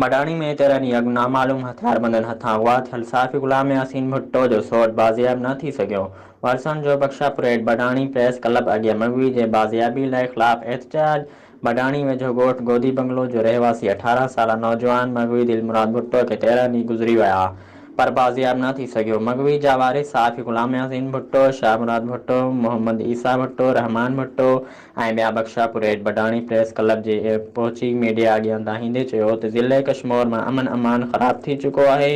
مڍاڻي ۾ تيرهن ڏينهن اڳ نامعلوم هٿياربندن هٿان اغوا ٿيل صحافي غلام ياسين ڀٽو جو سوٽ بازياب نه ٿي سگهيو، وارثن جو بخشا پريڊ مڍاڻي پريس ڪلب اڳيان مغوي جي بازيابي لاء خلاف احتجاج، مڍاڻي ويجهو ڳوٺ گودي بنگلو جو رهواسي اٺارهن سالا نوجوان مغوي دلمراد ڀٽو کي تيرهن ڏينهن گذري ويا پر بازياب نه ٿي سگهيو، مغوي جا وارث صحافي غلام ياسين ڀٽو، شاهه مراد ڀٽو، محمد عيسيٰ ڀٽو، رحمان ڀٽو، ۽ ٻيا بخشا پورهيت بڊاڻي پريس ڪلب جي پهچي ميڊيا اڳيان دانهيندي چيو ته ضلعي ڪشمور مان امن امان خراب ٿي چڪو آهي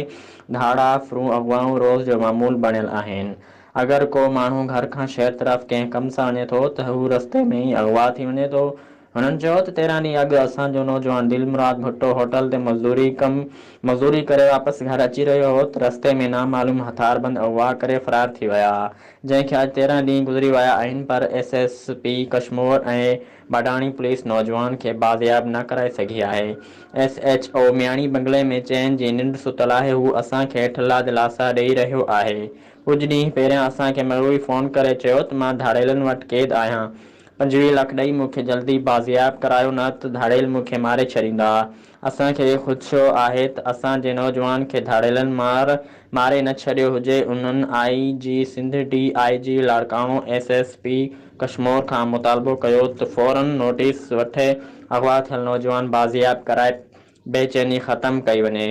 ڌاڙا، ڦرون اغوائون روز جو معمول بڻيل آهن اگر ڪو ماڻهو گهر کان شهر طرف ڪنهن ڪم سان وڃي ٿو ته هو رستي ۾ ئي اغوا ٿي وڃي ٿو هنن چيو ته تيرهن ڏينهن اڳ اسان جو نوجوان دلمراد ڀٽو هوٽل تي مزدوري ڪم مزوري ڪري واپس گهر اچي رهيو هو ته رستي ۾ نامعلوم هٿياربند اغوا ڪري فرار ٿي ويا جنهن کي اڄ تيرهن ڏينهن گذري ويا آهن پر ايس ايس پي ڪشمور ۽ باڊاڻي پوليس نوجوان کي بازياب نه ڪرائي سگهي آهي. ايس ايڇ او مياڻي بنگلي ۾ چين جي ننڊ ستل آهي هو اسان کي ٺلا دلاسا ڏئي رهيو آهي. ڪجهه ڏينهن پهريان اسان کي مغوي فون ڪري چيو ته مان ڌاڙيلن وٽ قيد آهيان پنجويهه لک ڏئي مون کي جلدي بازياب ڪرايو نه ته ڌاڙيل مون کي ماري ڇڏيندا. اسان کي خدشو آهي ته اسان جي نوجوان کي ڌاڙيلن مار ماري نه ڇڏيو هجي، انهن I G Sindh, D I G Larkana, S S P Kashmore کان مطالبو ڪيو ته فورن نوٽيس وٺي اغوا ٿيل نوجوان بازياب ڪرائي بي چيني ختم ڪئي وڃي.